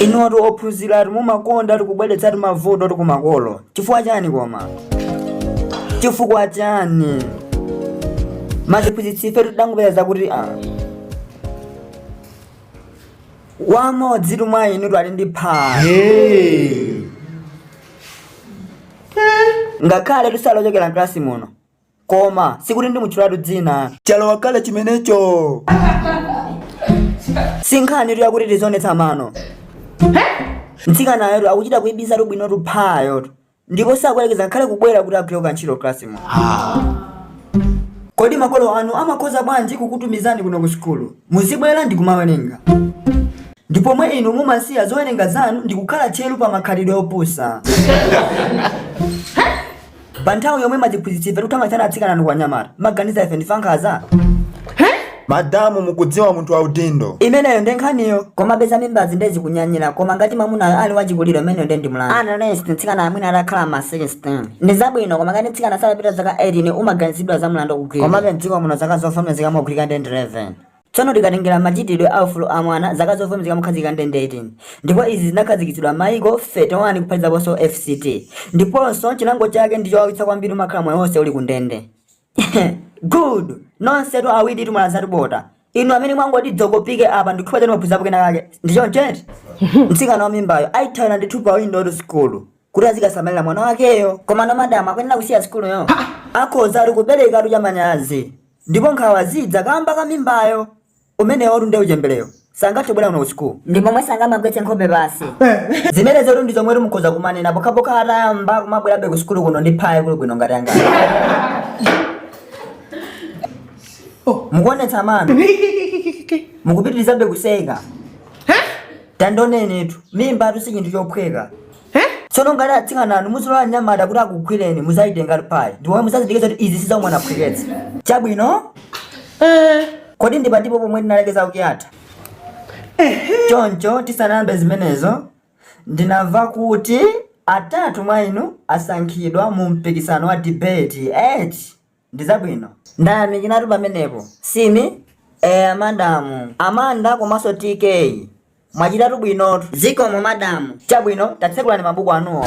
inutu ophunziratu mumakondatu kubweretsatu mavutotu kumakolo chifukwa chani koma chifukwa chani maziphunzitsi ife tidangopeza kuti ah, wamodzitu mwa inutu ali ndi pha Hey. ngakhaletu sali ochokera mklasi muno Koma sikuti ndimutchulatu dzina. Chalowa kale chimenecho. Si nkhanitu yakuti tizionetsa mano. Mtsikanayotu akuchita kuibisatu bwinotu phayotu. Ndipo sakuyerekeza ngakhale kubwera kuti agwire kantchito klasimo. Kodi makolo anu amakhoza bwanji kukutumizani kuno ku sukulu? Muzibwera ndi kumawerenga. Ndi pomwe inu mumasiya zowerenga zanu ndi kukhala tcheru pa makhalidwe opusa. Pa nthawi yomwe maziphunzitsi ife tikuthamangitsani atsikananu kwa anyamata, mumaganiza ife ndife ankhaza? madamu mukudziwa munthu wa udindo Imeneyo ndi nkhaniyo. Koma peza mimbazi nde zikunyanyira, koma ngati mamunayo ali wachikulire imeneyo nde ndi mlandu. Unless mtsikana mwina atakhala ma 16. Ndi zabwino koma ngati mtsikana sanapite zaka 18 umaganizidwa za mlandu wogwirira. Komabe mdziko muno zaka zovomezeka mogwirika ndi 11. Tsono tikatengera machitidwe a ufulu a mwana zaka zovomezeka mokhazikika nde ndi 18 ndipo izi zinakhazikitsidwa m'mayiko 31 kuphatizaponso FCT ndiponso chilango chake ndi chowawitsa kwambiri umakhala moyo wonse uli kundende. Good! Nonsetu awiritu mwalasatu bota. Inu amene mwangoti dzokopike apa ndikhoza kuti mwaphunzirapo kena kake. Ndi choncho eti? Mtsikana wa mimbayo aithawira ndithu pa windowtu sukulu. kuti azikasamalira mwana wakeyo komano madamu akuyenera kusiya sukuluyo akhozatu kuperekatu chamanyazi ndipo nkhawa zidza kamba ka mimbayo umenewotu nde uchemberewo sangathe kubwera kuno ku sukulu ndi momwe sangamagwetse nkhope pasi zimenezotu ndi zomwe mukhoza kumanena pokhapokha atayamba kumabwerabe ku sukulu kuno ndi phayo kuli bwino ngati anga mukuonetsa mano mukupitirizabe kuseka Tandionenitu, mimbatu si chinthu chophweka. Tsono ngati atsikananu muzilola anyamata kuti akugwireni muzayitengatu phayi ndipo muzazindikire zoti izi si za umwana phweketsa. Chabwino? Kodi ndi patipo pomwe tinalekeza week yatha? Choncho tisanayambe zimenezo, ndinamva kuti atatu mwa inu asankhidwa mu mpikisano wa debate, eti? ndi zabwino. Ndayamikiratu pamenepo Simi eya madamu Amanda komanso TK mwachitatu bwinotu. Zikomo madamu. Chabwino tatsekulani mabuku anuwo.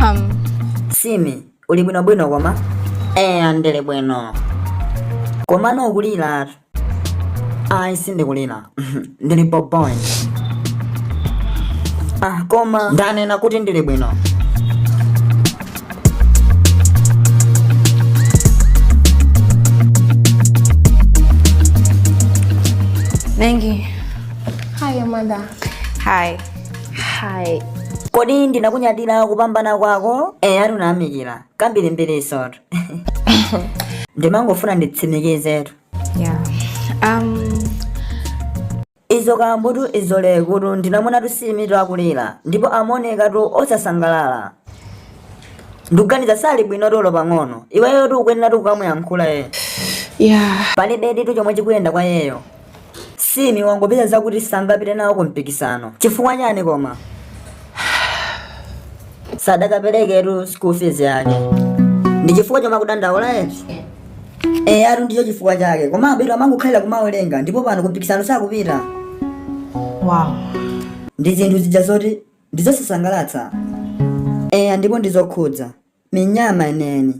Um, Simi uli bwinobwino eya ndili bwino komano ukuliratu ayi sindikulira ndili pompo ah, koma ndanena kuti ndili bwino Nengi. Hi, Amanda. Hi. Hi. ndinakunyadira kupambana kwako eya ndayamikira kwambirimbirinsotu ndimangofuna nditsimikizetu yeah um uzikambatu uzilekatu ndinamuonatu Simitu akulira ndipo amaonekatu osasangalala ndikuganiza sali bwino olo pang'ono iweyotu ukuyenera kukamuyankhula iye yeah palibe ndithu chomwe chikuyenda kwa iyeyo Simi wangopeza zakuti sangapite nawo ku mpikisano chifukwa chiyani koma sadaperekenso school fees yake ndi chifukwa chomwe akudandaula eti eyatu ndicho chifukwa chake komabetu amangokhalira kumawerenga ndipo pano ku mpikisano sakupita Wow. ndi zinthu zija zoti ndizosasangalatsa eya ndipo ndizokhudza ni nyama neni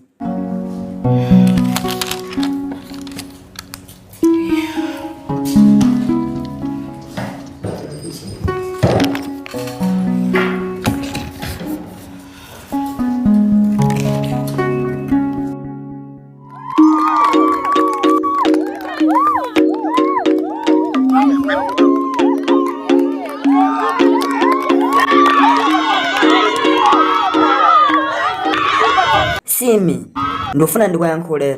Simi ndikufuna ndikuyankhule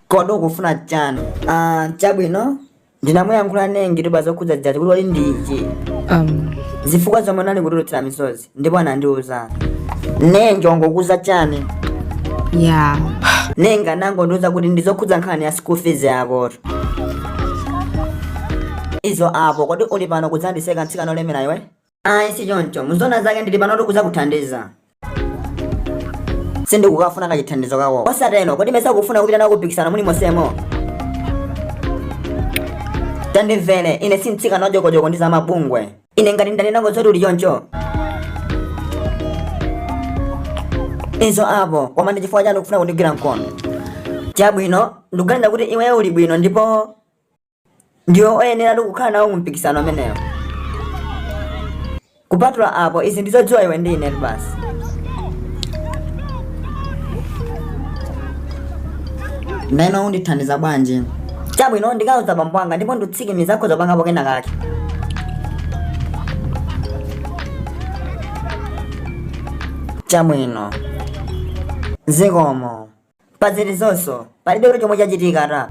kodi ukufuna chani Ah, chabwino ndinamuyankhula Nengi tu zokhudza zija kuti kodi ndi chiyani um, zifukwa zomwe unali kutulutsira misozi ndipo anandiuza Nengi wangokuuza chani yeah Nengi anangondiuza kuti ndizokhudza nkhani ya school fees yakotu izo apo kodi uli pano kudzandiseka mtsikana olemera iwe Ayi si choncho, muziona zake ndili panotu kuzakuthandiza. Sindikukafuna kachithandizo kako. Osatero, kodi mesa ukufuna kupita nawo kumpikisano ulionsewo? Tandimvere, ine si mtsikana wadyokodyoko ndi za mabungwe. Ine ngati ndanenako zoti uli choncho. Izo apo, koma ndi chifukwa chani ukufuna kundigwira mkono. Chabwino, ndikuganiza kuti iweyo uli bwino ndipo ndiwe oyeneratu kukhala nawo mu mpikisano umenewo kupatula apo izi ndizodziwa iwe ndi inetu basi ndiyeno undithandiza bwanji chabwino ndikawauza bambo anga ndipo ndikutsimikiza akhoza kupangapo kena kake chabwino zikomo pa zilizonso palibe chomwe chachitika ta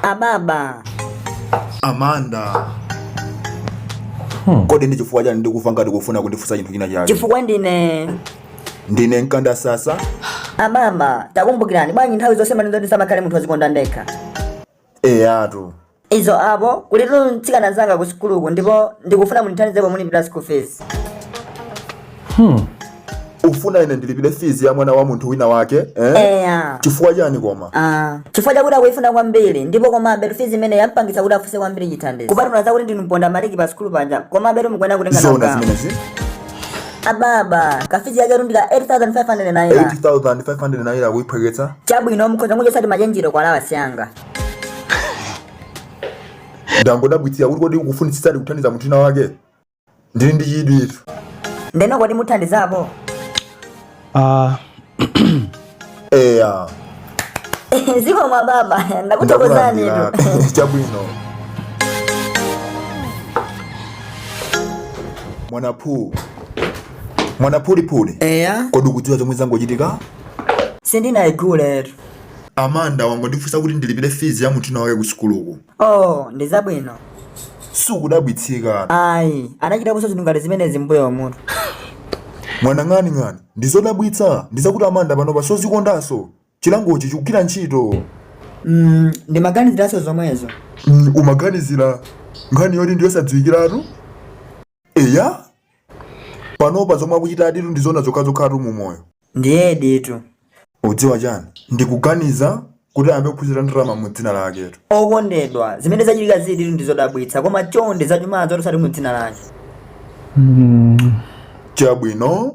ababa amanda kodi ndi chifukwa chani ndikumva ngati ukufuna kundifunsa chinthu china chake chifukwa ndine ndine Amanda sasa ababa takumbukirani bwanji nthawi zonse mumanena zoti ndisamakhale munthu wozikonda ndekha eyatu izo apo kulitu mtsikana mnzanga ku sukuluku ndipo ndikufuna mundithandizepo mulipira school fees ufuna ine ndilipire fizi ya mwana wa munthu wina wake eh? eya chifukwa chani koma Ah, chifukwa chakuti akuyifuna kwambiri ndipo komabe tufizi imene yampangitsa kuti afuse kwambiri chithandizo kupatula zakuti ndinu mponda maliki pa sukulu panja komabe tumukuyenera kutenga nawo zona gawo. zimenezi ababa kafizi yake ndi ka 8500 naira 8500 naira kuiphweketsa chabwino mukhoza kungochotsa machenjero kwa alawasi yanga ndangodabwitsika kuti kodi ukufunitsitsadi kuthandiza munthu wina wake ndili ndi chidwi ine ndeno kodi muthandizapo Uh, eya zikomo ababa ndakuthokozani ndakulandiratu chabwino mwanaphu mwanaphuliphuli eya kodi ukudziwa chomwe changochitika sindinaiguletu amanda wangondifunsa kuti ndilipire fizi ya munthu wina wake ku sukuluku oh ndi zabwino sukudabwitsika ayi anachitaponso zinthu ngati zimenezi m'mbuyomutu mwana ng'ani ng'ani ndi zodabwitsa ndi zakuti amanda panopa siozikondanso chilangochi chikugwira ntchito mm, ndimaganiziranso zomwezo Mm, umaganizira nkhani yoti ndiyosadziwikiratu eya panopa zomwe akuchita nditu ndi zona zokhazokhatu mu moyo ndiye nditu udziwa chani ndikuganiza kuti ayambe kuphunzira ndalama mu dzina laketu okondedwa zimene zachitika zili nditu ndi zodabwitsa koma chonde zachumazo osati mu dzina lake chabwino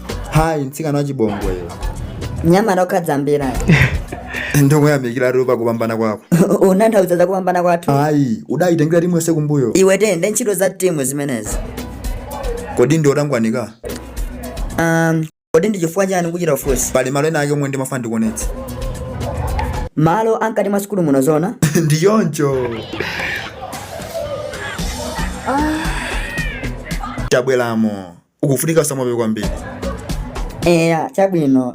hayi mtsikana wachibongweyo nyama lokhadzambira ndikuyamikira pa kupambana kwako ukutanthauza kupambana kwathu ayi udayitengera timu yonse kumbuyo iwe tende ntchito za timu zimenezi kodi ndi otangwanika um, kodi ndi chifukwa chani ukuchita kufunsa pali malo ena ake omwe ndimafuna ndikuonetse malo amkati mwa sukulu muno zona ndi choncho tabweramo ukufunika usamale kwambiri eya chabwino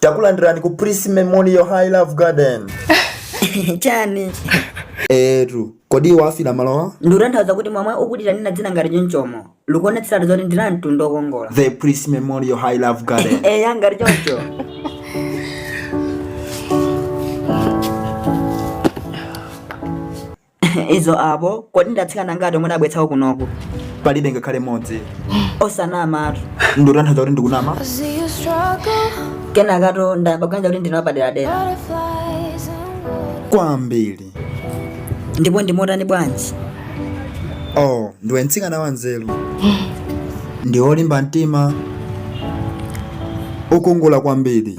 takulandirani ku Prince Memorial High Love Garden chani etu kodi wafira malowa ndikutanthauza kuti momwe ukuitira nina dzina ngati chonchomo likuonetseratu zoti ndi la mtundu okongola The Priest Memorial High Love Garden. eya ngati choncho izo apobe kodi ndi atsikana ngati omwe udabweretsako kunoku Palibe ngakhale mmodzi. osanamatu Ndikutanthauza kuti ndikunama. I see you struggle, kenakato ndayamba kuganiza kuti ndine wapaderadera butterflies and wood. Kwambiri. ndipo ndiwotani bwanji oh ndiwe mtsikana wanzeru ndi wolimba mtima wokongola kwambiri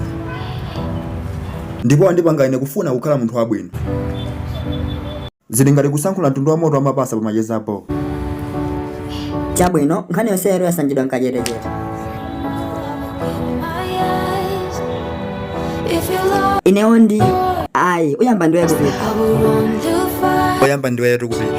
ndipo wandipanga ine kufuna kukhala munthu wabwino zili ngati kusankhula mtundu wa moto wamapasa pamacheza apo chabwino nkhani yonseyo yasanjidwa mwakachetechete inewo ndi ayi oyamba ndiwe kupita oyamba ndiweyo tikupita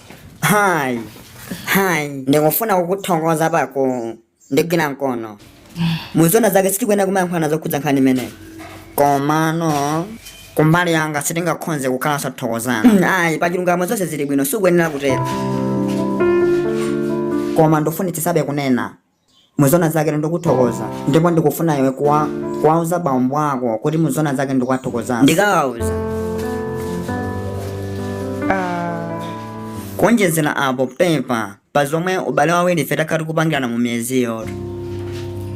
hayi hayi ndikufuna kukuthokoza pa kundigwira mkono muzona zake sitikuyenera kumayankhulana zokhudza nkhani imeneyo komano kumbali yanga sitingakhonze kukhala osathokozana ayi pachilungamo zonse zili bwino sukuyenera kutero koma ndifunitsitsabe kunena muzona zake ndikuthokoza ndipo ndikufuna iwe kuwa- kuwauza bambo ako kuti muzona zake ndikuwathokozanso ndikawauza Ah, kuonjezera apo pepa pa zomwe awiri ife takhala tikupangirana mu miyezi yonse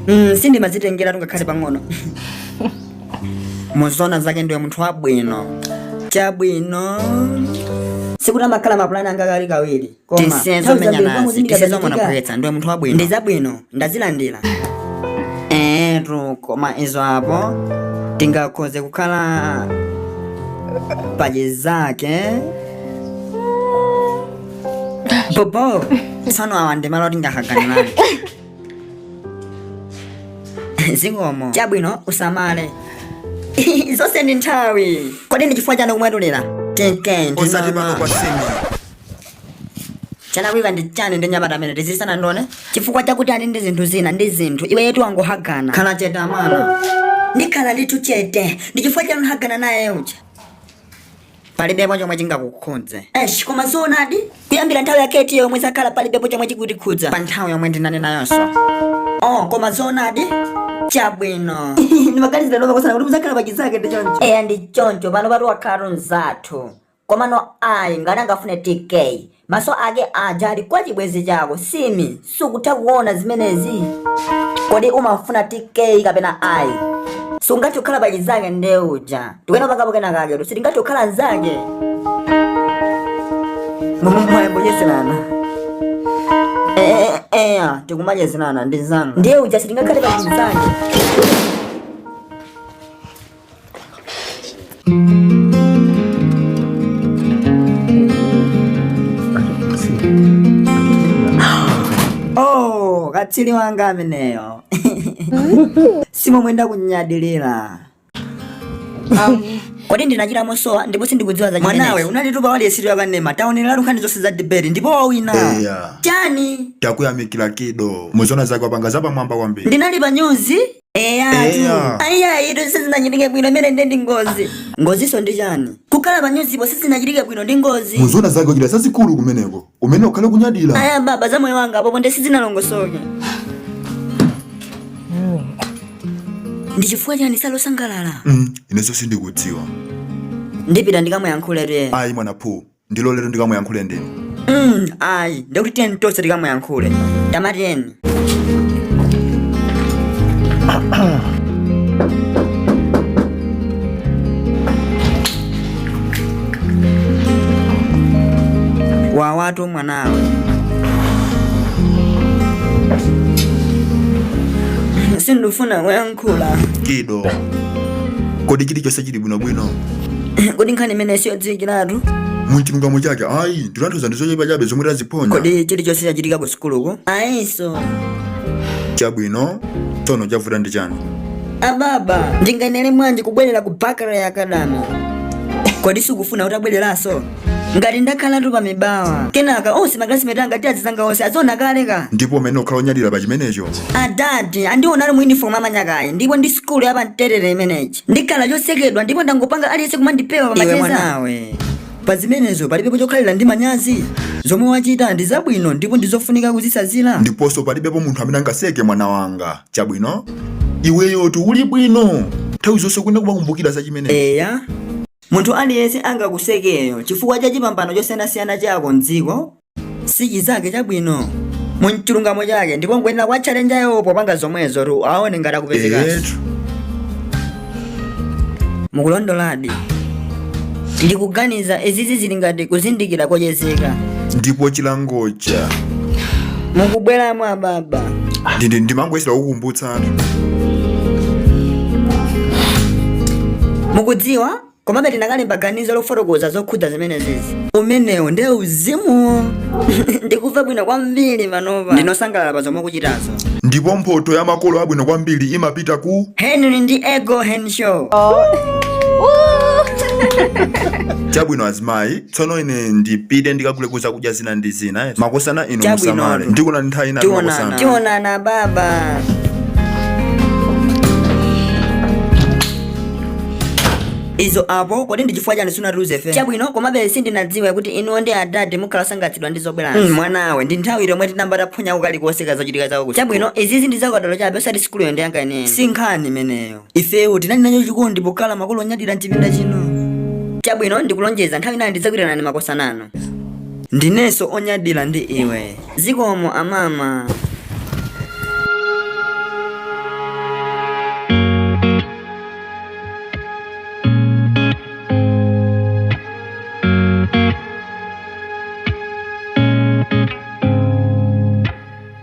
mm, sindimazitengeratu ngakhale pang'ono muzona zake ndiwe munthu wabwino chabwino sikuti amakhala mapulani anga kali kawiri koma nthawi zambiri tizamenyana zi pamuzindikira tizizomwe zachitika phwetsa ndiwe munthu wabwino ndi zabwino ndazilandiratu koma izo apo tingakhoze kukhala pachizake bobo tsono awa ndi malo tingahaganirani zikomo chabwino usamale zonse ndi nthawi kodi ndi chifukwa chani kumwetulira tinke osati pano kwa sini chalakwika ndi chani ndi mnyamata amene tizisana ndone chifukwa chakuti ali ndi zinthu zina ndi zinthu iweyotu wangohagana khala chete amana ndikhala ndithu chete ndi chifukwa chani hagana naye uja palibepo chomwe chingakukhudze esh koma zoonadi kuyambira nthawi yake itiyo yomwe zakhala palibepo chomwe chikutikhudza pa nthawi yomwe ndinali nayonso oh koma zoonadi chabwino ndimaganizira lova kusana kuti muzakhala pachizake ndi choncho eya ndi choncho panopatu wakhala mzathu Komano ayi ngati angafune tk maso ake aja ali kwa chibwezi chako simmene sukutha kuona zimenezi kodi umafuna tk kapena ayi sungathe kukhala pachizake nde uja tikunena palipo kenakaketu sitingathe kukhala nzake mumwayembocheselana eya tikumachezerana ndi anzanu ndiye uja sitingakhale pachizake Oh, katswiri wanga ameneyo simomwe ndakunyadirira kodi ndinachita mosowa ndipo sindikudziwa za mwanawe unatitupa wailesi yakanema taonerera nkhani zonse za debate ndipo wawina Eya. chani takuyamikira kido muzoona zake wapanga zapamwamba kwambiri ndinali pa nyuzi eya Eya. ayi ayitu sizinachitike bwino imene ndiye ndi ngozi ngozinso ndi chani kukhala pa nyuzipo sizinachitike bwino ndi ngozi muzoona zake kuchita zazikulu kumeneko umayenera kukhala onyadira ayi ababa za moyo wanga apopo nde sizinalongosoke ndi chifukwa chani sali osangalala Mm, ineso sindikudziwa ndipita ndikamuyankhuletu eya ayi mwana phu ndiloletu ndikamuyankhule ndine Mm, ayi ndikuti tiyeni tonse tikamuyankhule tamatiyeni bwerakotu mwanawe sindifuna kuyankhula khula kido kodi chilichonse chili bwinobwino kodi nkhani imene siyodziwikiratu muchilungamo chake ayi ndikutanthauza ndi zochepa chabe zomwe taziphonya kodi chilichonse chachitika ku sukuluko ayinso chabwino tsono chavuta ndi chani ababa ndinganene mwanji kubwerera ku bakara ya kadama kodi sukufuna kuti tibwererenso ngati ndakhalatu pa mibawa kenaka onse maklasimeti anga ti azizanga onse aziona kale ka ndipo umene ukhala onyadira pa chimenecho adadi andiona ali mu uniform amanyakayi ndipo ndi sikulu ya pamterere imeneji ndikhala chosekedwa ndipo ndangopanga aliyense kumandipewa Iwe macheza mwanawe. pa zimenezo palibepo chokhalira ndi manyazi zomwe wachita ndi zabwino ndipo ndizofunika kuzitsanzira ndiponso palibepo munthu amene angaseke mwana wanga chabwino iweyotu uli bwino nthawi zonse ukuyenera kumakumbukira za chimenecho eya Munthu aliyense angakuseke iwe chifukwa cha chipambano chosiyanasiyana chako m'dziko. si chizake chabwino. Mu chilungamo chake ndipo nkuyenera kwa chalenjayo popanga zomwezotu aone ngati akupezekanso. eyetu Mukulondoladi. Ndikuganiza izizi zili ngati kuzindikira kochezeka. ndipo chilangocha Mukubweramo ababa. ndindimangoyesera kukumbutsa mukudziwa komabe tikanalemba ganizo lofotokoza zokhudza zimenezizi umenewo ndiye uzimu ndikumva bwino kwambiri panopa ndine osangalala pa zomwe ukuchitazo ndipo mphoto ya makolo abwino kwambiri imapita ku henry ndi ego henshow chabwino azimayi Tsono ine ndipite ndikagule zakudya zina ndi zina eti? Makosana inu Chabwino. musamale. Ndikuonani nthawi ina Tionana. makosana. Tionana baba. Izo apo kodi ndi chifukwa chani sunatiuze ife? Chabwino komabe sindinadziwe kuti inuyo ndi adadi mukhala osangalatsidwa ndi zobwerazi. Mm, mwanawe ndi nthawi yomwe tinamba taphonya ukali kuoneka zochitika zawo kuti. Chabwino izizi ndi zakadalo chabe osati sikuluyo ndi ya nkhaniyo. Si nkhani imeneyo. ifeyo tinali nacho chikondi pokhala makolo onyadira mchipinda chino chabwino ndikulonjeza nthawi inayi ndidzakuitanani makosana inu ndinenso onyadira ndi iwe zikomo amama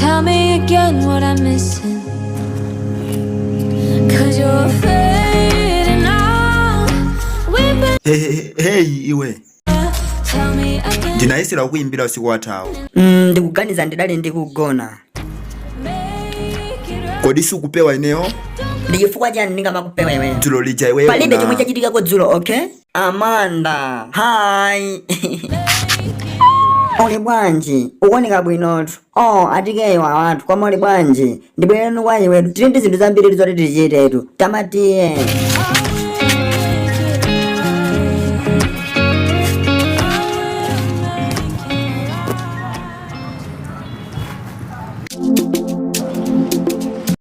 Tell me again what I'm missing. Cause you're fading out. We've been. Hey, hey, iwe. Tell me again. Ndinayesera kukuyimbira usiku wathawu. Mm, ndikuganiza ndidali ndikugona. Kodi sukupewa ineyo? Ndi chifukwa chani ndingamakupewa iweyo? Dzulo lija iweyo. Palibe chomwe chachitikako dzulo, okay? Amanda, hi. uli bwanji ukuoneka bwinotu oh atikeyo awatu koma uli bwanji ndibwerere kwa iwetu tili ndi zinthu zambiri zoti tichitetu tamatiye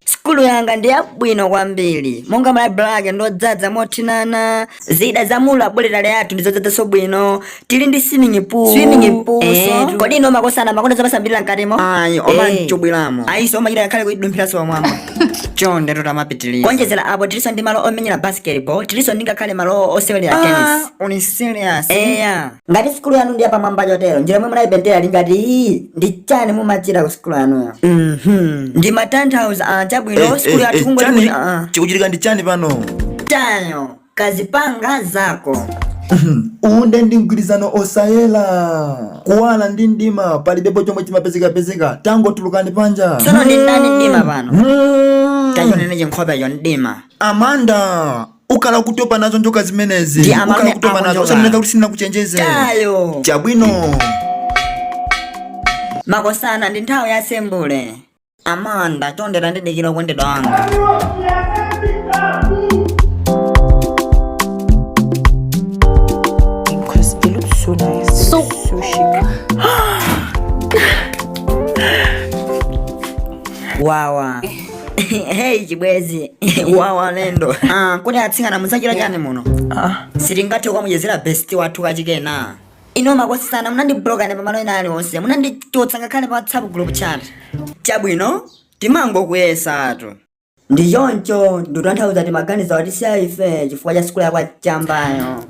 sukulu yanga ndi yabwino kwambiri monga laibulale ake ndodzadza mothinana zida za mu labotale yathu ndizodzadzanso bwino tili ndi swimming pool Swimming pool, Eh, so? kodi ino makosana makonda zamasambirira mkatimo ayi omamachubwiramo ayiso omachita ngakhale kudumphiranso mwamba chonde tatamapitirira kuonjezera apo tilinso ndi malo omenyera basketball tilinso ndingakhale malo osewerera tennis uli serious eya ngati sukulu yanu ndi yapamwamba chotero njira yomwe munayipentera ngati iyi ndi chani umachita ku sukulu yanuyo Mhm. ndimatanthauza ah, chabwino Eh, sukulu eh, yathu eh, kungoti chani? kuti ah, chikuchitika ndi chani pano Tayo kazipanga zako uwonde ndi mgwirizano osayera kuwala ndi mdima palibepo chomwe chimapezekapezeka tangotulukani panja tsono ndi ndani mdima pano tachonene chinkhopecho mdima Amanda ukhala ukutopa nazo njoka zimenezi Ndi amene ukhala ukutopa nazo akonyoka. usanene kuti sindinakuchenjeze Tayo chabwino makosana ndi nthawi ya sembule Amanda chonde tandidikira wokondedwa wanga Because it looks so nice. So, so chic. wawa hey chibwezi wawa alendo ah, kodi atsikana mudzachita chani muno ah. sitingathe kukamuchezera besti wathu kachikena ino makosana munandiblokane pamalo ena aliwonse munandichotsa ngakhale pa whatsapp group chat chabwino timangokuyesatu ndi choncho nditanthauza timaganiza watisiya ife chifukwa cha sukulu yako ya chambayo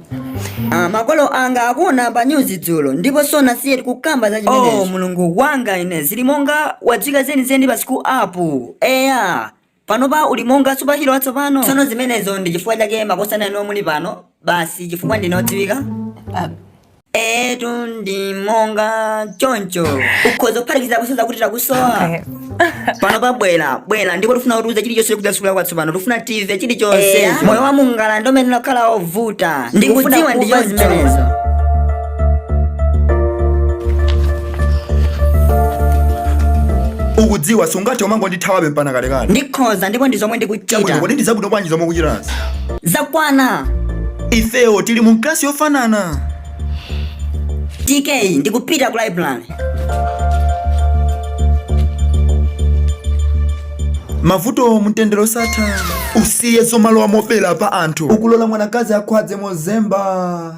Ah, makolo anga akuwona pa nyuzi dzulo ndipo sanasiyetu kukamba za zimenezo oh, mulungu wanga ine ndili monga wodziwika zenizeni pa sukulupa eya panopa uli monga supahiro watsopano tsono zimenezo ndi chifukwa chake makosana inu muli pano basi chifukwa ndine odziwika ah, etu ndi monga choncho ukhoza kuphatikiza kunsozo kuti takusowa panopa bwera bwera ndipo tifuna utiuze chilichonse chokudza sukulu yako yatsopano tifuna timve chilichonse Eya. moyo wa mungala ndimanena ukhala wovuta ndikudziwa ndi chonse zimenezo ukudziwa sungathe kumangondithawabe mpana kalekale ndikhoza ndipo ndi zomwe Chabwino, ndikuchita kodi ndi zabwino bwanji zomwe ukuchitazi zakwana ifewo tili mu klasi yofanana TK ndikupita ku library mavuto mtendere osatha usiye zomalowa mobera pa anthu ukulola mwanakazi akhwadze mozemba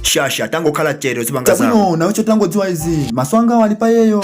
shasha tangokhala chete uzipanga zako chabwino nawecho tangodziwa izi maso angawo ali pa iyeyo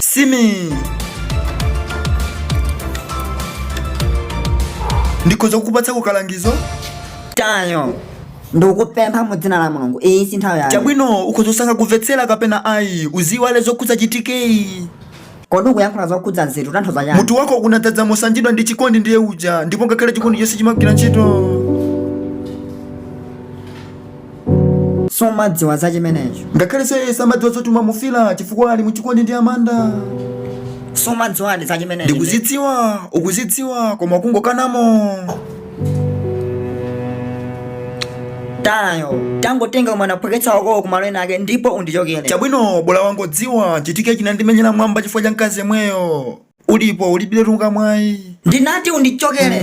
Simi ndikhoza kukupatsako kalangizo Tayo ndikukupempha mu dzina la mulungu iyi si nthawi yake chabwino ukhoza kusankha kumvetsera kapena ayi uziwale zokhudza chitikeyi Kodi ukuyankhula zokhudza nzeru utanthauza chani? Mutu wako unadzadzamo sanjidwa ndi chikondi ndiye uja ndipo ngakhale chikondi chonse chimagwira ntchito. Sumadziwa za chimenecho. Ngakhale Seye samadziwa zoti umamufila chifukwa ali mu chikondi ndi Amanda. Sumadziwa za chimenecho. Ndikuzidziwa, ukuzidziwa koma ukungokana. tayo tangotenga kumenya kophweketsa wakowo kumalo ena ake ndipo undichokere chabwino bola wangodziwa chitike chinandimenyera mwambo chifukwa cha mkazi yemweyo ndipo ulibiretu nga mwayi ndinati undichokere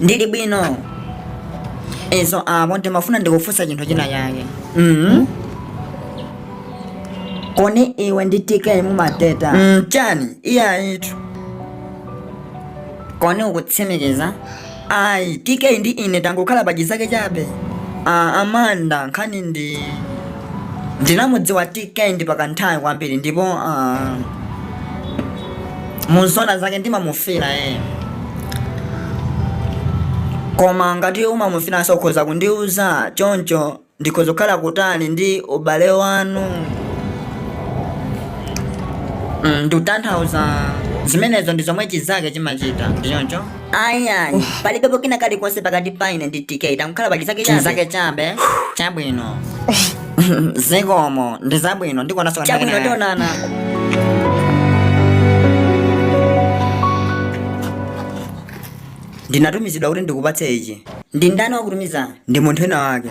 ndili bwino izo apo ndimafuna ndikufunse chinthu china chake mm koni iwe ndi tk mumadeta mm, chani iye ayitu koni ukutsimikiza ayi tk ndi ine tangokhala pa chizake chabe ah, amanda nkhani ndi ndinamudziwa tk kwa kanthawi kwambiri ndipo ah, muzoona zake ndimamufila eh. koma ngati umamufilanso ukhoza kundiuza choncho ndikhoza kukhala kutali ndi ubale wanu mm, ndikutanthauza zimenezo ndi zomwe chizake chimachita ndi choncho ayi ayi palibepo kena kalikonse pakati pa ine ndi tk tangokhala pa chizake chabe chizake chabe chabwino zikomo ndi zabwino ndikuonanso chabwino tionana ndinatumizidwa kuti ndikupatseni ichi ndi ndani wakutumiza ndi munthu wina wake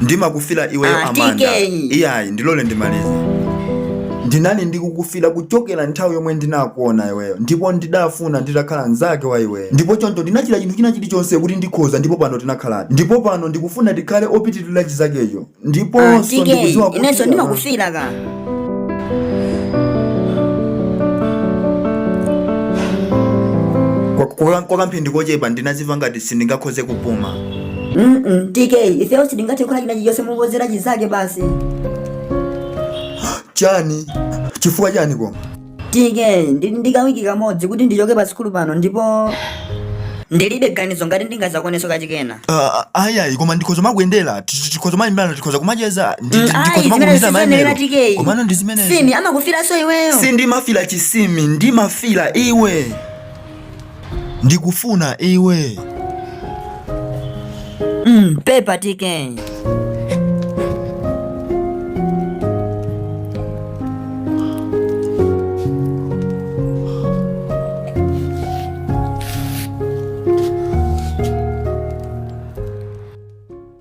ndimakufila iweyo ah, amanda iyayi ndilole ndimalize ndinali ndikukufila kuchokera nthawi yomwe ndinakuona iweyo ndipo ndidafuna nditakhala mnzake wa iweyo ndipo choncho ndinachita chinthu china chilichonse kuti ndikhoze ndipo pano tinakhaladi ndipo pano ndikufuna tikhale opitirira chizakecho ndiponso kwa kamphindi kochepa ndinaziva ngati sindingakhoze kupuma Mm-mm, TK, ifeyo sitingathe kukhala chinachilichonse koposera chinzake basi. chani chifukwa chani koma TK, ndi ndikawiki kamodzi kuti ndichoke pa sikulu pano ndipo ndilibe ganizo ngati ndingazakwanitso kachikena. Ah, ayi ayi koma ndikhoza kumakuyendera tikhoza kumayimbirana tikhoza kumacheza ndi- ndi- ndikhoza Ayi, makuchita zimenezo mayimbiro siziyenera TK. komano ndi zimenezo Simi amakufilanso iweyo. sindimafila Simi ndimafila iwe ndikufuna iwe Mm, pepa TK.